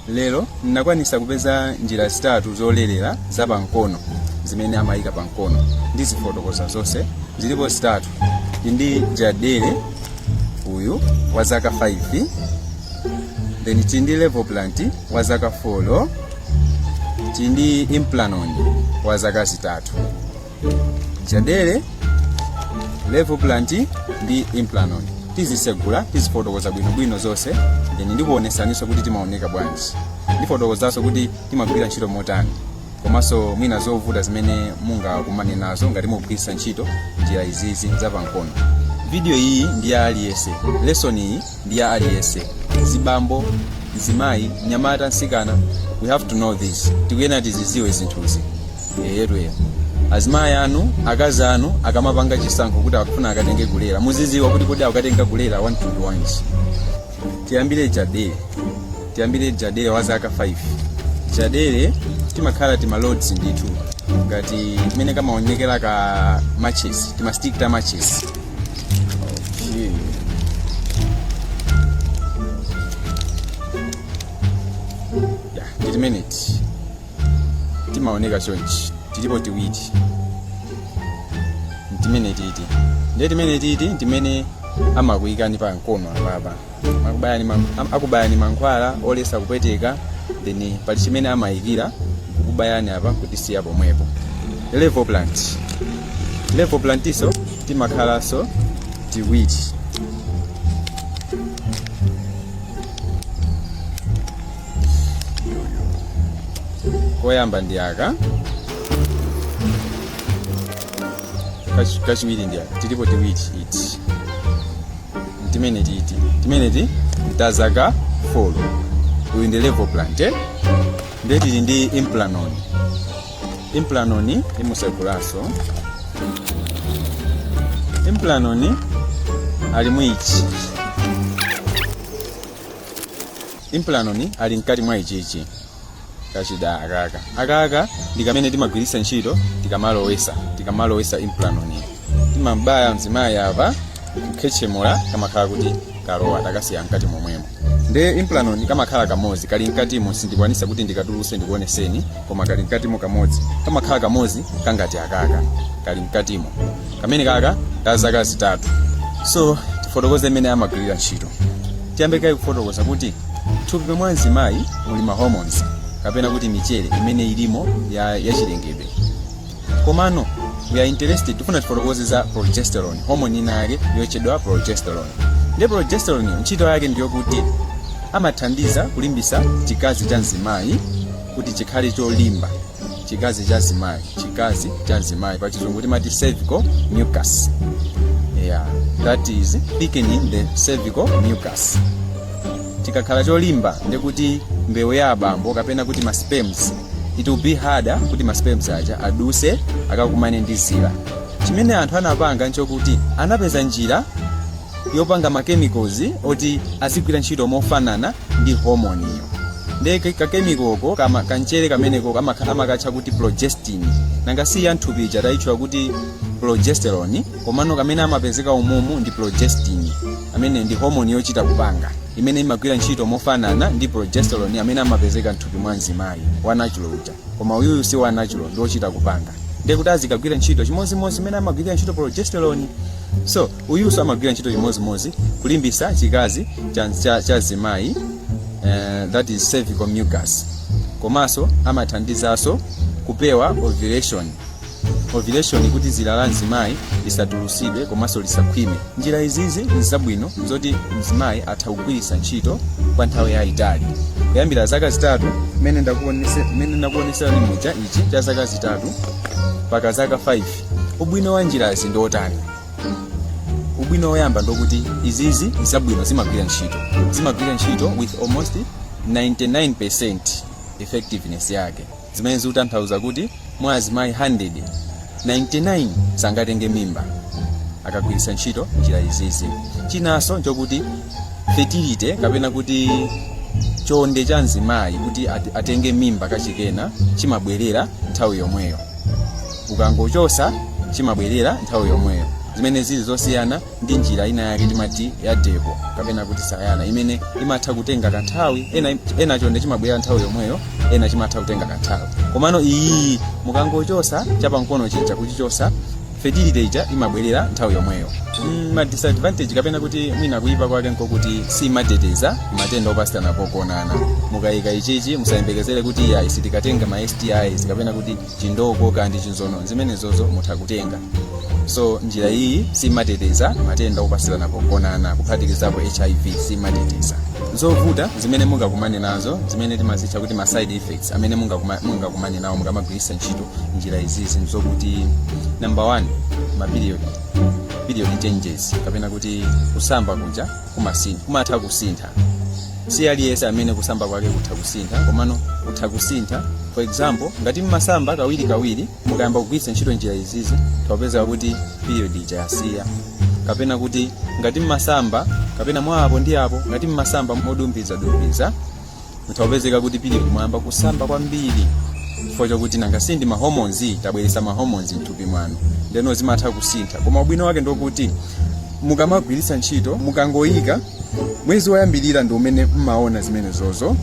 lero nakwanisa kupeza njira zitatu zolerera za pankono zimene amayika pankono ndizifotokoza zonse zilipo zitatu chindi jadelle uyu wa zaka 5 then chindi levoplant wa zaka 4 chindi implanon wa zaka zitatu jadelle levoplant ndi implanon tizisegula tizifotokoza bwinobwino zonse then ndikuonesaninso kuti timaoneka bwanji ndifotokozanso kuti timagwira ntchito motani komanso mwina zovuta zimene mungakumane nazo ngati mugwiritsa ntchito njira izizi zapankono video iyi ndi ya aliyese lesson iyi ndi ya aliyense mzibambo mzimayi mnyamata msikana we have to know this tikuyena tiziziwe zinthuzi eyetu azimayi anu akazi anu akamapanga chisankho kuti akufuna akatenge kulera muziziwa kuti kodi akatenga kulera wantundu wanji tiyambire jadelle tiyambire jadelle wa zaka 5 jadelle timakhala tima rods ndithu ngati mmene kamaonekera ka matches timastick ta matches ya tili minute timaoneka chonchi tilipo tiwiti ntimene titi ndiye timene titi ntimene amakuyikani pa mkono apapa akubayani mankhwala olesa kupweteka then pali chimene amayikira kubayani apa kutisiya pomwepo levoplant levoplantso timakhalanso tiwiri koyamba ndi aka Kachi- kachiwiri ndi aka tilipo tiwiri iti timene titi timeneti tazaka 4 uyu ndi levoplant eh? ndiye tili ndi implanon implanon ndimusegulaso implanon ali mu ichi implanon ali mkati mwa ichichi kachida akaka akaka ndi kamene timagwiritsa ntchito tikamalowesa tikamalowesa implanon timambaya mzimayi apa kukhechemula kamakhala kuti kalowa takasiya mkati momwemo nde implanon kamakhala kamodzi kali mkatimo sindikwanisa kuti ndikatuluse ndikuoneseni koma kali mkatimo kamodzi kamakhala kamodzi kangati akaka kali mkatimo kamenekaka ka zaka zitatu so tifotokoze mmene amagwirira ntchito tiyambe kaye kufotokoza kuti M'thupi mwa mzimayi muli ma hormones kapena kuti michere imene ilimo ya chilengedwe. Komano we are interested tifuna tifotokoze za progesterone, hormone ina yake yotchedwa progesterone. Ndiye progesterone yo, ntchito yake ndiyo kuti amathandiza kulimbisa chikazi cha mzimayi kuti chikhale cholimba. chikazi cha mzimayi chikazi cha mzimayi pa chizungu timati cervical mucus yeah that is thickening the cervical mucus chikakhala cholimba ndikuti mbewu ya abambo kapena kuti ma sperms it will be harder kuti ma sperms aja aduse akakumane ndi zira chimene anthu anapanga nchokuti anapeza njira yopanga ma chemicals oti azigwira ntchito mofanana ndi hormone iyo ndiye ka- kakemikoko kama- kanchere kameneko amakha- amakatcha kuti progestin nanga si ya nthupi ija tayitchula kuti progesterone komano kamene amapezeka umumu ndi progestin amene ndi hormone yochita kupanga imene imagwira ntchito mofanana ndi progesterone amene amapezeka nthupi mwa mzimayi wa natural uja koma uyuyu si wa natural ndi wochita kupanga ndiye kuti azikagwira ntchito chimodzimodzi imene amagwirira ntchito progesterone so uyunso amagwira ntchito chimodzimodzi kulimbisa chikazi cha, cha, cha mzimayi uh, that is cervical mucus komanso amathandizanso kupewa ovulation ovulation kuti dzira la mzimayi lisatulusidwe komanso lisakhwime njira izizi nzabwino zoti mzimayi atha kugwiritsa ntchito kwa nthawi yayitali kuyambira zaka zitatu mmene ndakuonese- mmene ndakuoneserani muja ichi cha zaka zitatu mpaka zaka 5 ubwino wa njirazi ndi otani ubwino woyamba ndokuti izizi nzabwino zimagwira ntchito zimagwira ntchito with almost 99% effectiveness yake zimene zikutanthauza kuti mwa azimayi 100 99 sangatenge mimba akagwiritsa ntchito njira izizi chinanso nchokuti fertility kapena kuti chonde cha mzimayi kuti at- atenge mimba kachikena chimabwerera nthawi yomweyo ukangochosa chimabwerera nthawi yomweyo zimene zili zosiyana ndi njira ina yake timati ya depo kapena kuti sayana imene imatha kutenga kanthawi ena, ena chonde chimabwerera nthawi yomweyo ena chimatha kutenga kanthawi komano iyi mukangochosa chapankono chija kuchichosa fertility ija imabwerera nthawi yomweyo mm, ma disadvantage kapena kuti mwina kuyipa kwake nkokuti simateteza matenda opatsirana pogonana mukayika ichichi musayembekezere kuti ayi sitikatenga ma stis kapena kuti chindoko kaya ndi chinzono zimenezozo mutha kutenga so njira iyi simateteza matenda opatsirana pogonana kuphatikizapo hiv simateteza zovuta zimene mungakumane nazo zimene timazitcha kuti ma side effects amene mungakuma- mungakumane nawo mukamagwiritsa ntchito njira izizi nzokuti number one maperiod period changes kapena kuti kusamba kuja kumasintha kumatha kusintha si aliyense amene kusamba kwake kutha kusintha komano kutha kusintha for example ngati mmasamba kawiri kawiri mukayamba kugwiritsa ntchito njira izizi mutha kupeza kuti period ija yasiya kapena kuti ngati mmasamba kapena mwa apo ndi apo ngati mmasamba modumbiza dumbiza mutha kupezeka kuti period muyamba kusamba kwambiri chifukwa chakuti nanga si ndi mahormones tabweresa mahormones mthupi mwanu ndeno zimatha kusintha koma ubwino wake ndokuti mukamagwiritsa ntchito mukangoyika mwezi woyambirira ndi umene mmaona zimenezozo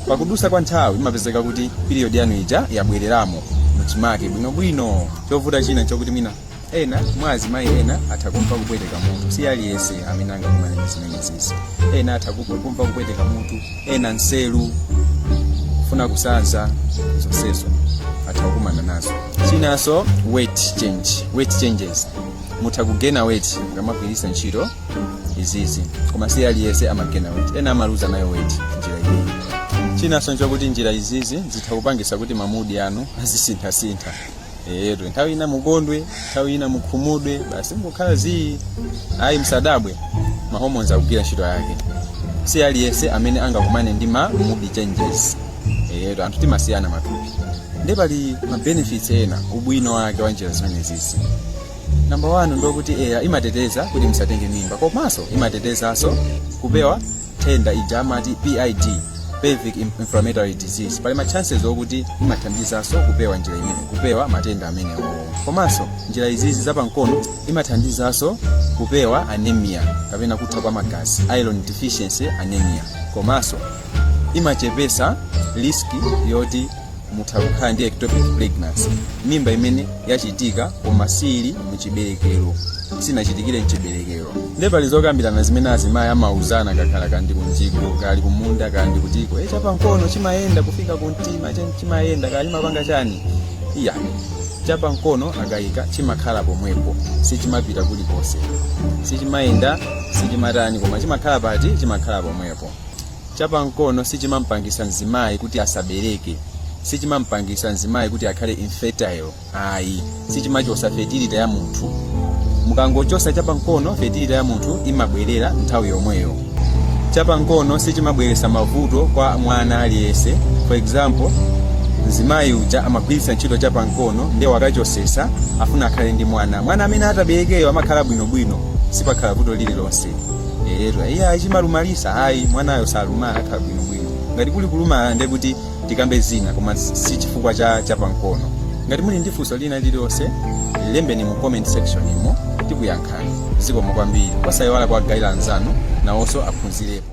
pakudusa kwa nthawi imapezeka kuti period yanu ija yabwereramo muchimake bwinobwino chovuta china chokuti mwina ena mwa azimayi ena atha kumva kupweteka mutu si aliyense amene angakumane ndi zimenezizi ena atha ku- kumva kupweteka mutu ena nselu kufuna kusanza zonsezo atha kukumana nazo chinanso weight change weight changes mutha kugena weight mukamagwiritsa ntchito izizi koma si aliyense amagena weight ena amaluza nayo weight njira iyi chinanso nchokuti njira izizi zitha kupangisa kuti mamudi anu azisinthasintha eyetu nthawi ina mukondwe nthawi ina mukhumudwe basi mukukhala zii ayi msadabwe mahomoni akugwira ntchito yake si aliyense amene angakumane ndi ma mood changes eyetu anthu timasiyana matupi nde pali ma benefits ena ubwino wake wa njira zimenezizi namba 1 ndokuti eya imateteza kuti musatenge mimba komanso imatetezanso kupewa nthenda ija amati pid pelvic inflammatory disease pali ma chances okuti imathandizanso kupewa njira imene kupewa matenda amenewa komanso njira izizi zapamkono imathandizanso kupewa anemia kapena kutha kwa magazi iron deficiency anemia komanso imachepesa risk yoti mutha kukhala ndi ectopic pregnancy mimba imene yachitika koma siili muchiberekero sinachitikire mchiberekero nde pali zokambirana zimene azimayi amauzana akakhala kaya ndi kumjigo kaya ali kumunda kaya ndi kutiko e chapa mkono chimayenda kufika kumtima chani chimayenda kaya chimapanga chani ayi chapa mkono akayika chimakhala pomwepo sichimapita kulikonse sichimayenda sichimatani koma chimakhala pati chimakhala pomwepo Chapamkono sichimampangisa mzimayi kuti asabereke, sichimampangisa mzimayi kuti akhale infertile ayi, sichimachosa fertility ya munthu. Mukangochosa chapamkono fertility ya munthu imabwerera nthawi yomweyo. Chapamkono sichimabweresa mavuto kwa mwana aliyense. For example, mzimayi uja amagwiritsa ntchito chapamkono ndiye wakachosesa afuna akhale ndi mwana. Mwana amene ataberekeyo amakhala bwinobwino, sipakhala vuto lililonse. eyetu iye chimalumalisa ayi mwanayo salumala akhala bwinobwino ngati kuli kulumala ndiye kuti tikambe zina koma si si chifukwa cha chapamkono ngati muli ndi funso lina lililonse lembani mu comment section imo tikuyankhani zikomo kwambiri osayiwala kuwagayira anzanu nawonso aphunzirepo